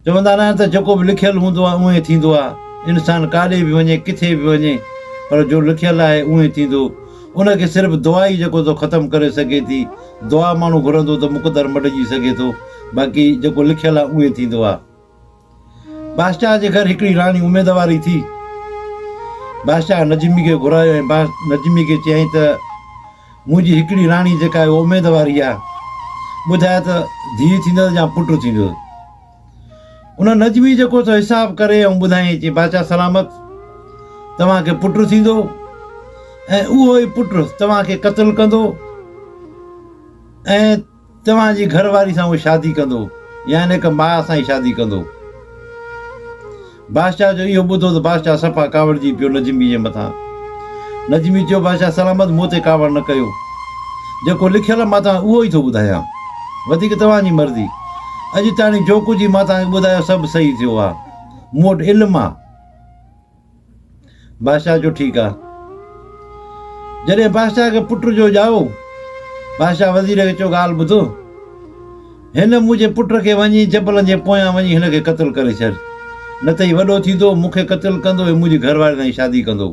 چوندا ناهن ته جيڪو به لکيل هوندو آهي اونهي ٿيندو آهي. انسان ڪاڏي به وڃي ڪٿي به وڃي پر جو لکيل آهي اونهي ٿيندو. ان کي صرف دعا ئي جيڪو ٿو ختم ڪري سگهي ٿي. دعا ماڻهو گهرندو ته مقدر مٽجي سگهي ٿو باقي جيڪو لکيل آهي اونهي ٿيندو آهي. بادشاهه جي گهر هڪڙي راڻي اميدواري ٿي. بادشاهه نجمي کي گهرايو ۽ نجمي کي چيائين ته. منهنجي هڪڙي راڻي جيڪا آهي اميد واري آهي ٻڌايو ته ڌيء ٿيندس يا پٽ ٿيندس ان نجمي جيڪو سو حساب ڪري ۽ ٻڌائين چي بادشاهه سلامت توهانکي پٽ ٿيندو ۽ اهو ئي پٽ توهانکي قتل ڪندو ۽ توهان جي گهر واري سان هو شادي ڪندو يا هن هڪ ماء سان ئي شادي ڪندو. بادشاهه جو اهو ٻڌو ته بادشاهه صفا ڪاوڙجي پيو نجمي جي مٿان. نجمي چيو بادشاهه سلامت مون تي ڪاوڙ نه ڪيو. جيڪو لکيل مان توهان اهو ئي ٿو ٻڌايان. وڌيڪ توهان جي مرضي. اڄ تاڻي جو ڪجهه ئي مان توهان کي ٻڌايو سڀ صحيح ٿيو آهي. مون وٽ علم آهي. بادشاهه چيو ٺيڪ آ. جڏهن بادشاهه کي پٽ جو ڄائو، بادشاهه وزير کي چيو ڳالهه ٻڌ، هن منهنجي پٽ کي وڃي جبلن جي پويان وڃي هن کي قتل ڪري ڇڏ، نه ته هي وڏو ٿيندو مون کي قتل ڪندو ۽ منهنجي گهر واري سان ئي شادي ڪندو.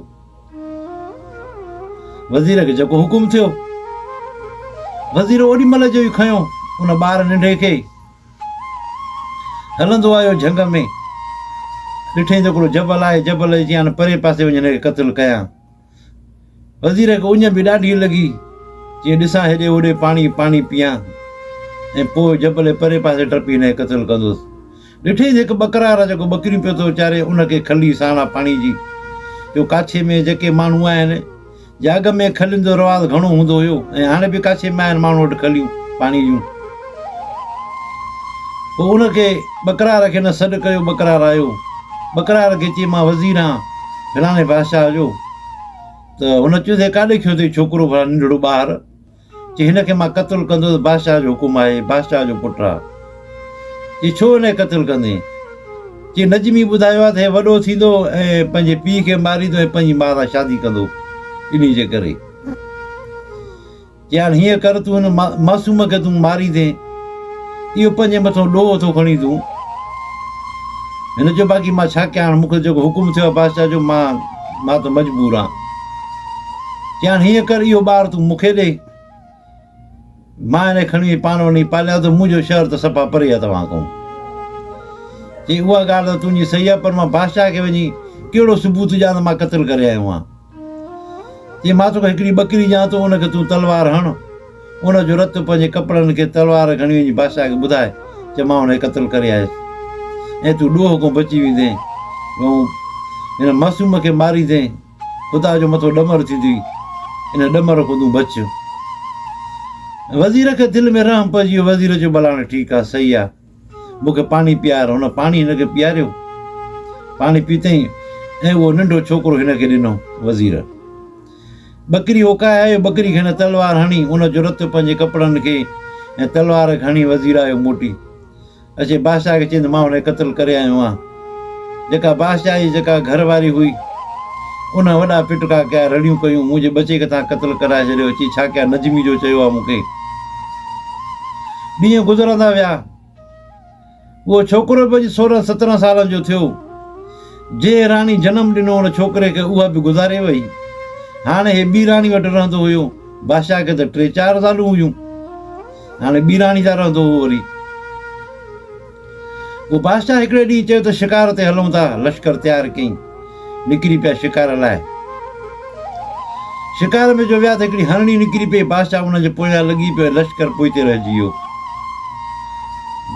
وزير کي جيڪو حڪم ٿيو. وزير اوڏي مهل جو ئي کنيو ان ٻار ننڍي کي. هلندو آيو جهنگ ۾، ڏٺئين ته هڪڙو جبل آهي، جبل جي چيان پرئين پاسي وڃي هن کي قتل ڪيان. وزير کي اڃ به ڏاڍي لڳي، چيائين ڏسان هيڏي هوڏي پاڻي پاڻي پيان ۽ پوء جبل جي پرئين پاسي ٽپي هن کي قتل ڪندس. ڏٺئين ته هڪ ٻڪرار جيڪو ٻڪريون پيو ٿو چاري ان کي کلي ساڻا پاڻي جي جو ڪاڇي ۾ جيڪي ماڻهو آهن، جهاڳ ۾ کلين جو رواز گهڻو هوندو هيو ۽ هاڻي به ڪاشي ۾ آهن ماڻهو وٽ کليون پاڻي جون. پوء ان کي ٻڪرار کي نه سڏ ڪيو ٻڪرار آيو ٻڪرار کي چي مان وزير آهان فلاڻي بادشاهه جو ته هن چيو ته هي ڪاڏي کيو اٿئي ڇوڪرو ڀلا ننڍڙو ٻاهر چي هن کي مان قتل ڪندس بادشاهه جو حڪم آهي بادشاهه جو پٽ آ چي ڇو هن کي قتل ڪندين چي نجمي ٻڌايو آ ته هي وڏو ٿيندو ۽ پنهنجي پيء کي ماريندو ۽ پنهنجي ماء سان شادي ڪندو انهي جي ڪري چي هاڻ هيئن ڪر تون هن معصوم کي تون ماريندين اهو پنهنجي مٿو ڏوهه ٿو کڻي تون هن چيو باقي مان ڇا ڪيان هاڻ مون کي جيڪو حڪم ٿيو آ بادشاهه جو مان مان ته مجبور آ چيائين هيئن ڪر اهو ٻار تون مون کي ڏي. مان هن کي کڻي پاڻ وڃي پاليان ٿو، منهنجو شهر ته صفا پري آهي توهان کان. چيائين اها ڳالهه ته تنهنجي صحيح آهي پر مان بادشاهه کي وڃي ڪهڙو ثبوت ڏيان ته مان قتل ڪري آيو آهيان. چيائين مان توکي هڪڙي ٻڪري ڏيان ٿو ان کي تون تلوار هڻ، ان جو رت پنهنجي ڪپڙن کي تلوار کڻي وڃي بادشاهه کي ٻڌاء چئه مان هن کي قتل ڪري آيس ۽ تون ڏوهه کان بچي ويندين ۽ هن معصوم کي ماريندين. خدا جو مٿو ڏمر ٿيندي، ان ڏمر کان تون بچ. وزير کي دل ۾ رحم پئجي ويو، وزير چيو بلاڻي ٺيڪ آ، صحيح آ، مون کي پاڻي پيار. هن پاڻي هن کي پياريو، پاڻي پيتئين ۽ اهو ننڍو ڇوڪرو هن کي ڏنو. وزير ٻڪري اوڪائي آيو، ٻڪري کي هن تلوار هڻي، ان جو رت پنهنجي ڪپڙن کي ۽ تلوار کي هڻي وزير آيو موٽي. اچي بادشاهه کي چيند مان هن کي قتل ڪري آيو آهيان. جيڪا بادشاهه جي جيڪا گهر واري هئي ان وڏا پٽڪا ڪيا رڙيون ڪيون منهنجي ٻچي کي توهان قتل ڪرائي ڇڏيو اچي ڇا ڪيا نجمي جو چيو آهي مون کي. ڏينهن گذرندا ويا اهو ڇوڪرو به اڄ سورهن سترهن سالن جو ٿيو جنهن راڻي جنم ڏنو ان ڇوڪري کي اها به گذاري وئي هاڻي هي ٻي راڻي وٽ رهندو هيو بادشاهه کي ته ٽي چار زالون هيون. هاڻي ٻيراڻي جا رهندو هو وري. پوء بادشاهه هڪڙي ڏينهن چيو ته شڪار تي هلون ٿا، لشڪر تيار ڪيائين. نڪري پيا شڪار لاء. شڪار ۾ جو ويا ته هڪڙي هرڻي نڪري پئي، بادشاهه ان جي پويان لڳي پيو ۽ لشڪر پوئتي رهجي ويو.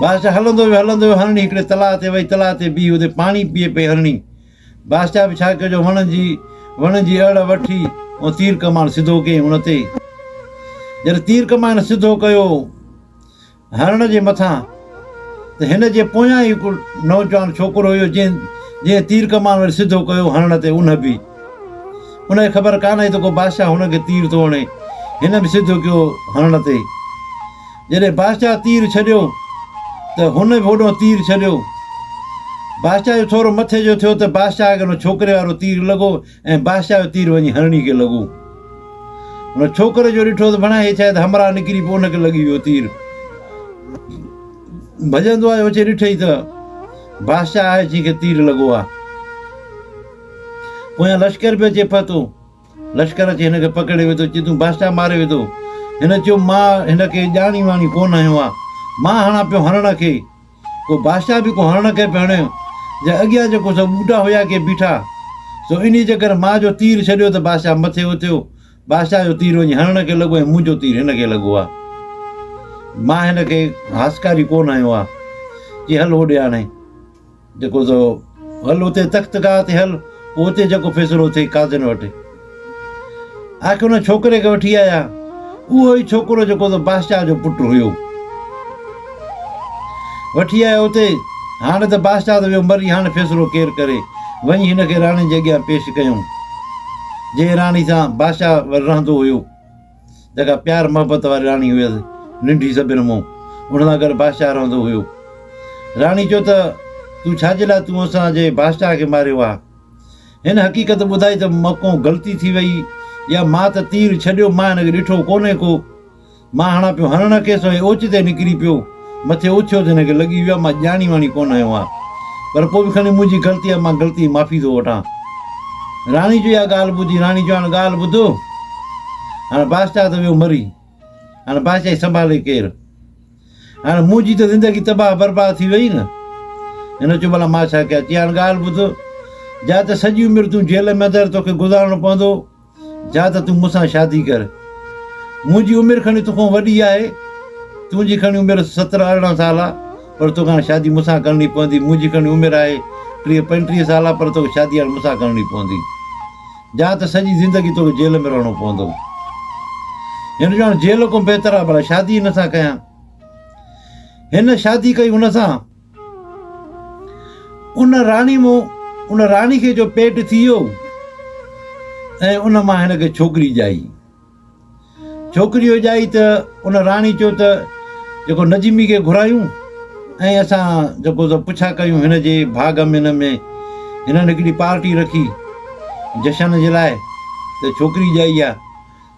بادشاهه هلندو ويو هلندو ويو، هرڻي هڪڙي تلاء تي وئي، تلاء تي بيهي اتي پاڻي پيئي پئي هرڻي. بادشاهه به ڇا ڪيو جو وڻ جي وڻ جي اڙ وٺي ۽ تير ڪمان سڌو ڪيائين ان تي. جڏهن تير ڪمان سڌو ڪيو هرڻ جي مٿان ته هن جي پويان ئي هڪ نوجوان ڇوڪرو هيو جنهن جنهن تير ڪمان وري سڌو ڪيو هرڻ تي ان به ان کي خبر ڪانه هئي ته ڪو بادشاهه هن کي تير ٿو هڻي هن به سڌو ڪيو هرڻ تي. جڏهن بادشاهه تير ڇڏيو ته هن به هوڏانهن تير ڇڏيو. بادشاهه جو ٿورو مٿي جو ٿيو ته بادشاهه کي ان ڇوڪري وارو تير لڳو ۽ بادشاهه جو تير وڃي هرڻي کي لڳو. ان ڇوڪري جو ڏٺو ته ڀڻا هي شايد همراهه نڪري پوء ان کي لڳي ويو تير. ڀڄندو آيو اچي ڏٺئي ته بادشاهه آهي جنهن کي تير لڳو آهي. پويان لشڪر به اچي پهتو. لشڪر اچي هن کي پڪڙي ويو ته چيتون بادشاهه ماري وڌو. هن چيو مان هن کي ڄاڻي واڻي ڪو نه هنيو آ. مان هڻان پيو هرڻ کي. پوء بادشاهه به ڪو هرڻ کي پيو هڻيو جنهن اڳيان جيڪو سو ٻوٽا هيا ڪي بيٺا. سو انهي جي ڪري مان جو تير ڇڏيو ته بادشاهه مٿي اٿيو. بادشاهه جو تير وڃي هرڻ کي لڳو ۽ منهنجو تير هن کي لڳو آ. مان هن کي هاسڪاري ڪو نه هنيو آ. چي هل هوڏي هاڻي. جيڪو سو هل اتي تخت گاهه تي هل، پوء اتي جيڪو فيصلو ٿئي قاضين وٽ هي. آخر ان ڇوڪري کي وٺي آيا. اهو ئي ڇوڪرو جيڪو سو بادشاهه جو پٽ هيو. وٺي آيا اتي، هاڻ ته بادشاهه ته ويو مري، هاڻ فيصلو ڪير ڪري؟ وڃي هن کي راڻي جي اڳيان پيش ڪيائون. جنهن راڻي سان بادشاهه رهندو هيو. جيڪا پيار محبت واري راڻي هيس، ننڍي سڀن مون ان سان گڏ بادشاهه رهندو هيو. راڻي چيو ته، تون ڇا جي لاء تون اسان جي بادشاهه کي ماريو آ؟ هن حقيقت ٻڌائي ته مکون غلطي ٿي وئي يا مان ته تير ڇڏيو مان هن کي ڏٺو ڪونهي ڪو. مان هڻان پيو هرڻ کيس ۽ اوچتي نڪري پيو. مٿي اٿيو ته هن کي لڳي ويو آهي مان ڄاڻي واڻي ڪونه آيو آهيان پر پوء به کڻي منهنجي غلطي آهي مان غلطي جي معافي ٿو وٺان. راڻي جو اها ڳالهه ٻڌي راڻي چيو هاڻ ڳالهه ٻڌ هاڻ بادشاهه ته ويو مري هاڻ بادشاهي سنڀالي ڪير هاڻ منهنجي ته زندگي تباهه برباد ٿي وئي نه هن چيو ڀلا مان ڇا ڪيان چي هاڻ ڳالهه ٻڌ جا ته سڄي عمر تون جيل ۾ اندر توکي گذارڻو پوندو جا ته تون مون سان شادي ڪر. مون جي عمر کڻي تو کان وڏي آهي. تون جي کڻي عمر سترهن ارڙهن سال آ پر تو کان شادي مون سان ڪرڻي پوندي. مون جي کڻي عمر آهي ٽيهه پنجٽيهه سال آ پر تو کي شادي هاڻ مون سان ڪرڻي پوندي. جا ته سڄي زندگي تو کي جيل ۾ رهڻو پوندو. هن جو هاڻ جيل کان بهتر آ ڀلا شادي هن سان ڪيان. هن شادي ڪئي هن سان. ان راڻي مون ان راڻي کي جو پيٽ ٿي ويو ۽ ان مان هن کي ڇوڪري ڄائي ڇوڪري جو ڄائي ته ان راڻي چيو ته جيڪو نجمي کي گهرايون ۽ اسان جيڪو سو پڇا ڪيون هن جي ڀاڳ ۾ هن ۾ هنن هڪڙي پارٽي رکي جشن جي لاء ته ڇوڪري ڄائي آ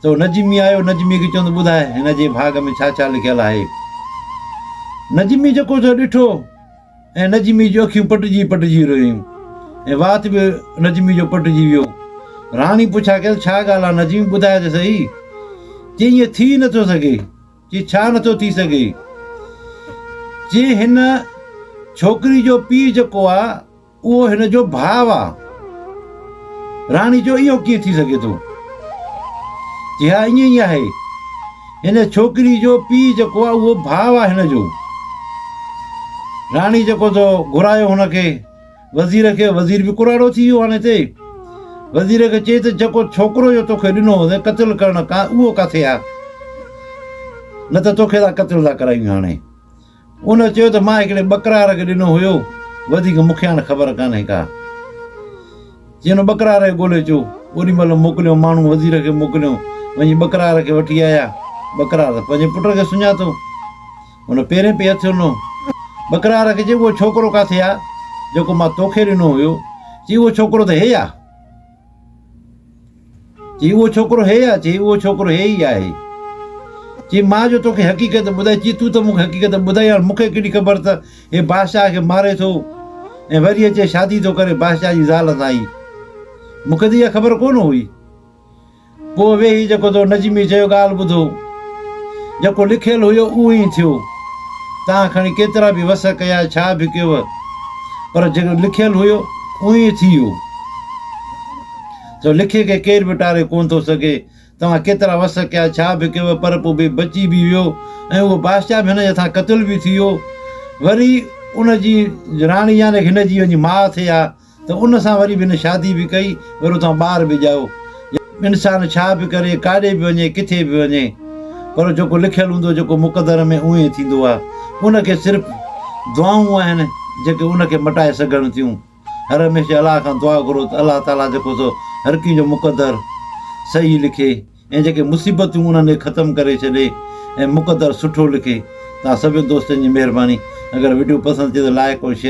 سو نجمي آيو، نجميء کي چيو ته ٻڌاء هن جي ڀاڳ ۾ ڇا ڇا لکيل آهي. نجمي جيڪو سو ڏٺو ۽ نجمي جون اکيون پٽجي پٽجي رويون ۽ وات به نجمي جو پٽجي ويو. راڻي پڇا ڪيس ڇا ڳالهه آهي نجمي ٻڌاء ته سهي. چيائين ايئن ٿي ئي نه ٿو سگهي. چيائين ڇا نه ٿو ٿي سگهي. چيائين هن ڇوڪري جو پيء جيڪو آهي، اهو هن جو ڀاء آ. راڻي چيو اهو ڪيئن ٿي سگهي ٿو؟ چي ها ائين ئي آهي. هن ڇوڪري جو پيء جيڪو آ اهو ڀاء آ هن جو. راڻي جيڪو ٿو گهرايو هن کي وزير کي وزير به ڪراڙو ٿي ويو هاڻي تي. وزير کي چي ته جيڪو ڇوڪرو جو توکي ڏنو هوندي قتل ڪرڻ ڪا اهو ڪاٿي آ؟ نه ته توکي ٿا قتل ٿا ڪرايون هاڻي. ان چيو ته مان هڪڙي ٻڪرار کي ڏنو هيو وڌيڪ مون کي هاڻ خبر ڪانهي ڪا. جنهن ٻڪرار کي ڳولي اچو اوڏي مهل موڪليو ماڻهو وزير کي موڪليو وڃي ٻڪرار کي وٺي آيا ٻڪرار ته پنهنجي پٽ کي سڃاتو ان پيرين پئي هٿ هنيو ٻڪرار کي چيو اهو ڇوڪرو ڪاٿي آ جيڪو مان توکي ڏنو هيو چي اهو ڇوڪرو ته هي آ. چي اهو ڇوڪرو هي آ، چي اهو ڇوڪرو هي ئي آهي. چي مان جو توکي حقيقت ٻڌائي، چي تون ته مون کي حقيقت ٻڌائي، هاڻ مون کي ڪهڙي خبر ته هي بادشاهه کي ماري ٿو ۽ وري اچي شادي ٿو ڪري بادشاهه جي زال سان ئي. مون کي ته اها خبر ڪونه هئي. پوء ويهي جيڪو تو نجميء چيو ڳالهه ٻڌو. جيڪو لکيل هيو اهو ئي ٿيو. توهان کڻي ڪيترا به وس ڪيا ڇا به ڪيوء پر جيڪو لکيل هيو اهو ئي ٿي ويو. سو لکي کي ڪير به ٽاري ڪونه ٿو سگهي. توهان ڪيترا وس ڪيا ڇا به ڪيوء پر پوء به بچي به ويو ۽ اهو بادشاهه به هن جي هٿان قتل به ٿي ويو. وري ان جي راڻي يعني هن جي ماء ٿئي ها ته ان سان وري به نه شادي به ڪئي وري اتان ٻار به ڄايو. انسان ڇا به ڪري ڪاڏي به وڃي ڪٿي به وڃي پر جيڪو لکيل هوندو جيڪو مقدر ۾ اوهين ٿيندو آ ان کي صرف دعائون آهن جيڪي ان کي مٽائي سگهن ٿيون هر هميشه الله کان دعا گهرو ته الله تعالي جيڪو سو هر ڪنهن جو مقدر صحيح لکي ۽ جيڪي مصيبتون انهن کي ختم ڪري ڇڏي ۽ مقدر سٺو لکي تان سڀين دوستن جي مهرباني اگر وڊيو پسند ٿئي ته لائڪ ۽ شيئر